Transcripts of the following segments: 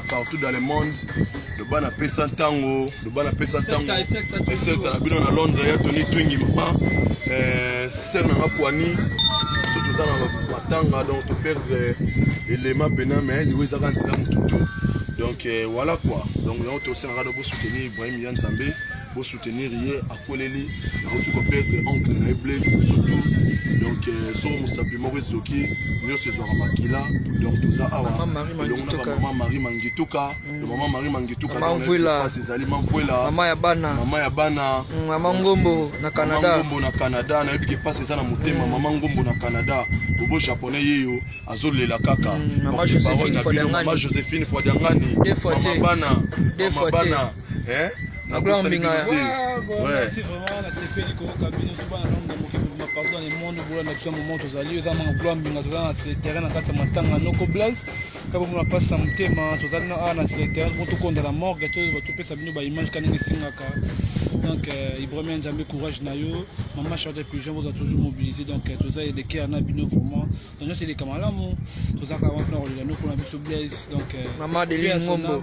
partout dans le monde loba na pesa ntango loba na pesa ntango esekta na bino na londres ya toni twingi mama eh, sere nanga poani so toza na matanga donc toperdre elema mpena mai liwa ezaka nzela motutu donc eh, voilà quoi donc yango tosengaka na bosoutenir ibrahim ya nzambe bo soutenir ye akweleli akoki ko perdre oncle na ye blaise surtout donc euh, soko mosapi moko ezoki nyonso ezwaka makila donc toza awa elongo na bamama marie mangituka mm. mama marie mangituka pasi ezali mamvuela mama ya bana mama ya bana mm, mama ngombo na canada ngombo na canada nayebi ke pasi eza na motema mm. mama ngombo na canada bobo japonais yeyo azolela kaka mama josephine fwadiangani mama bana mama bana eh na ko mbinga ya merci vraiment na sepeli ko ka bino suba na nombre moki ma partout dans le monde bola na kya moment tozali eza manga gloire mbinga tozali na sur terrain na kati ya matanga noko blaise kabo mona pasa motema tozali na awa na sur terrain po tokonda na morgue to topesa bino ba image kaninga esengaka donc euh, ibrahima nzambe courage na yo mama charlotte pigeon boza toujours mobilisé donc euh, toza elekea na bino vraiment donc nyonso eleka malamu tozalaka wana mpona kolela noko na biso blaise donc euh, mama adeline ngombo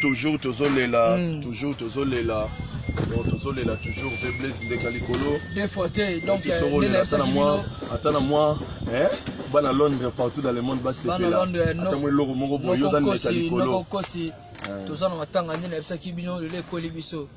toujours tozolela mm. toujours tozolela donc tozolela toujours mpe blaise ndeka likolo tosokolela ata na mwa ata na mwa bana londres partout dans le monde basepela ata mwa eloko moko boye oza ndeka likolo toza na matanga nde nayebisaki bino lelo ekoli biso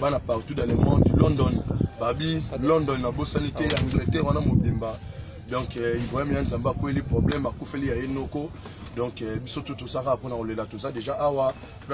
bana partout dans le monde london babi london nabosani te ah angleterre wana mobimba donc euh, ibrahim ya nzambe akweli problème akufeli ya ye noko donc euh, biso tu tosaka mpona kolela toza déjà awa